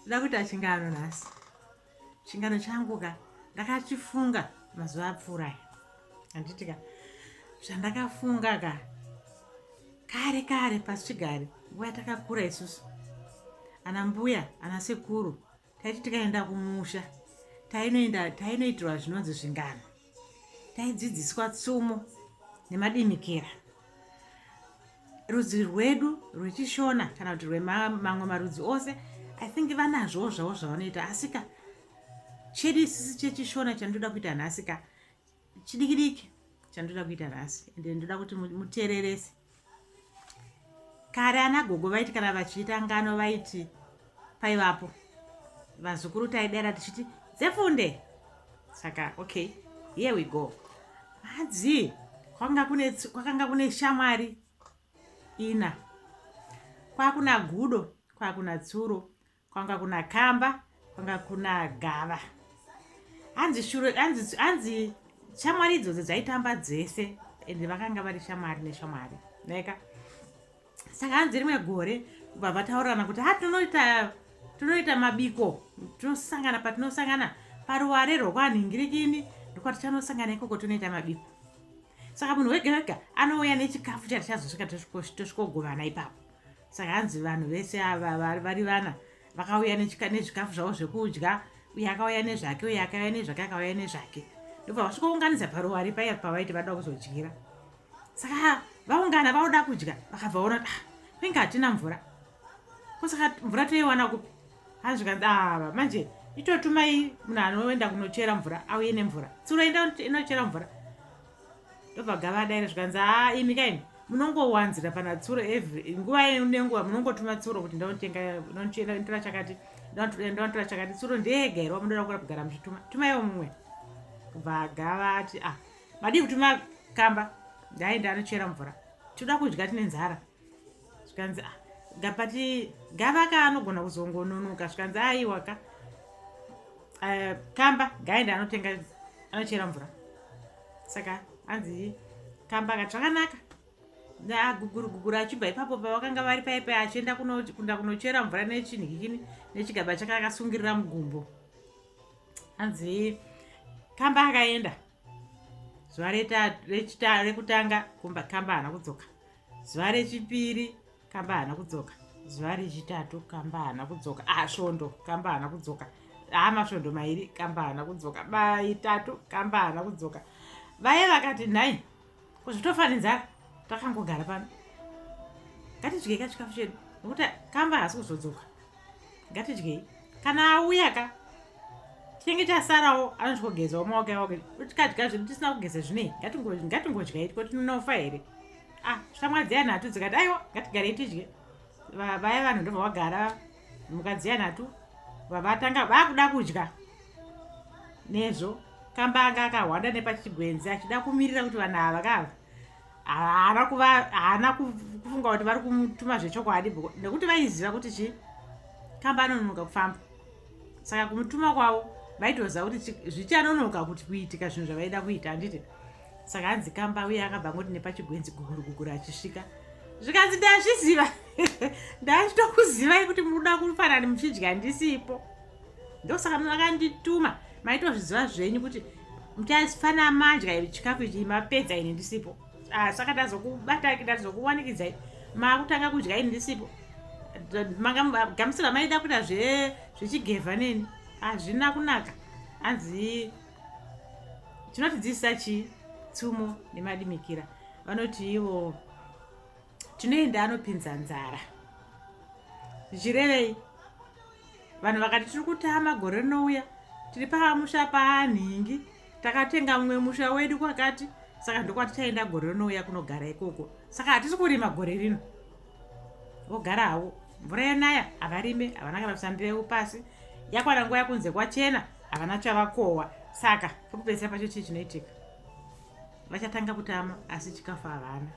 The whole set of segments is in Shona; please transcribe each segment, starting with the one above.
nda kuita chingano nhasi chingano changu ka ndakachifunga mazuva apfuura aya handiti ka zvandakafunga ka kare kare pasichigare nguva yatakakura isusu ana mbuya ana sekuru taiti tikaenda kumusha tainoenda tainoitirwa zvinonzi zvingano taidzidziswa tsumo nemadimikira rudzi rwedu rwechishona kana kuti rwemamwe marudzi ose i think vanazvowo zvavo zvavanoita asika chedu isisi chechishona chandoda kuita nhasi ka chidikidiki chandoda kuita nhasi ende ndoda kuti muteererese Kare ana gogo vaiti kana vachiita ngano vaiti paivapo vazukuru taidera tichiti dzefunde saka okay here we go hadzi kwakanga kune kwakanga kune shamwari ina kwakuna gudo kwakuna tsuro kwanga kuna kamba kwanga kuna gava hanzi shuro hanzi hanzi shamwari idzodzo dzaitamba dzese ende vakanga vari shamwari neshamwari neka saka hanzi rimwe gore kubva vataurirana kuti ha tinoita tinoita mabiko tinosangana patinosangana paruware rwokwanhingirikini ndokwatichanosangana ikoko tinoita mabiko saka munhu wega wega anouya nechikafu chatichazosvika tosvikogovana ipapo saka hanzi vanhu vese ava vari vana vakauya nezvikafu zvavo zvekudya uye akauya nezvake uye akauya nezvake akauya nezvake ndobva vasvikounganidza paruwari paiya pavaiti vada kuzodyira saka vaungana vauda kudya vakabva vaona kuti ah, kwenge hatina mvura kosaka mvura toiwana kupi hanzi zvikanzi ava ah, manje itotumai munhu anoenda kunochera mvura auye nemvura tsuro enda inochera mvura ndobva gava daire zvikanzi haa ah, imi kaini munongowanzira pana tsuro every nguva nenguva munongotuma tsuro kuti ndanotengaonotora chakati ndanotora chakati tsuro ndega here wamunoda kura kugara muchituma tumaiwo mumwe kubva gava ati ah madii kutuma kamba ndaenda anochera mvura tinoda kudya tine nzara zvikanzi ah, gapati gava ka anogona kuzongononoka zvikanzi aiwa ka uh, kamba gaende anotenga anochera mvura saka anzi kamba akati zvakanaka aguguru guguru achibva ipapo pavakanga vari paipe achienda kunda kunochera mvura nechinhikini nechigaba chake akasungirira mugumbo anzi kamba akaenda zuva rekutanga kamba hana kudzoka zuva rechipiri kamba hana kudzoka zuva rechitatu kamba hana kudzoka ah svondo kamba hana kudzoka ah masvondo mairi kamba hana kudzoka maitatu kamba hana kudzoka vaye vakati nhai kuzvitofani nzara takangogara pano ngatidyei ka chikafu chedu nokuti kamba hasi kuzodzoka ngatidyei kana auya ka chinenge chasarawo anotyogezawo maoko yawake tikadya zvedu tisina kugeza zvinei ngatingodyai tiko tinofa here ah shamwa dziyani hatu dzikati aiwa ngatigarei tidye vaya vanhu ndovavagara mukadzi yanhatu vavatanga vakuda kudya nezvo kamba anga akahwanda nepachigwenzi achida kumirira kuti vanhu ava kava haana kuva haana kufunga kuti vari kumutuma zvechokwadi nekuti vaiziva kuti chii kamba anononoka kufamba saka kumutuma kwavo vaitoziva kuti zvichanonoka kuti kuitika zvinhu zvavaida kuita handiti saka hanzi kamba uye akabva ngoti nepachigwenzi guguru guguru achisvika zvikanzi ndazviziva ndachitokuzivai kuti munoda kufanani muchidya ndisipo ndosaka makandituma maitozviziva zvenyu kuti muchafana madya iri chikafu ichi mapedza ini ndisipo ah, saka tazokubatai tazokuwanikidzai makutanga kudya ini ndisipo mangagamusira maida kuita zvechigevha neni hazvina kunaka hanzi chinotidzidzisa chii tsumo nemadimikira vanoti ivo tinoenda anopinza nzara zvichirevei vanhu vakati tiri kutama gore rinouya tiri pamusha paanhingi takatenga mumwe musha wedu kwakati saka ndokwatichaenda gore rinouya kunogara ikoko saka hatisi kurima gore rino vogara havo mvura yanaya havarime havana kana kuisa mbeu pasi yakwana nguva yakunze kwachena havana chavakohwa saka pekupedzisa pacho chii chinoitika vachatanga kutama asi chikafu havana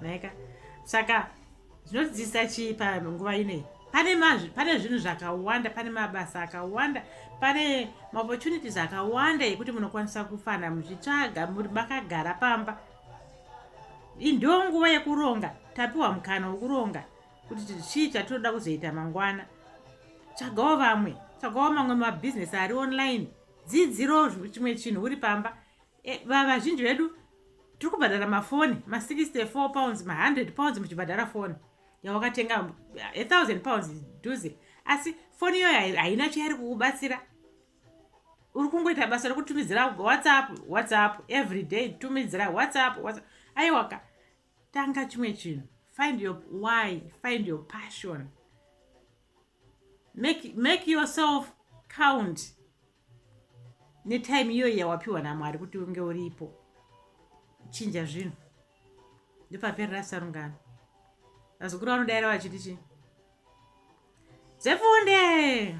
naika saka zvinodzidzisa chii panguva inei pane mazvi pane zvinhu zvakawanda pane mabasa akawanda pane maopportunities akawanda ekuti munokwanisa kufana muchitsvaga makagara pamba Ndo nguva yekuronga, tapiwa mukana wekuronga kuti chii chatinoda kuzoita mangwana. Tsvagawo vamwe, tsvagawo mamwe mabhizinesi ari online, dzidziro chimwe chinhu uri pamba. E, vazhinji vedu tiri kubhadhara mafoni ma64 pounds ma100 pounds muchibhadhara foni yawakatenga a1000 pounds duze asi foni iyoyo haina chairi kukubatsira uri kungoita basa rekutumidzira whatsapp whatsapp every day tumidzira whatsapp whatsapp aiwaka tanga chimwe chinhu find your why find your passion make, make yourself count netime iyoyi yawapiwa namwari kuti unge uripo chinja zvinhu ndopaperera sarungano vazukuru vanodaira vachiti chii Dzifunde!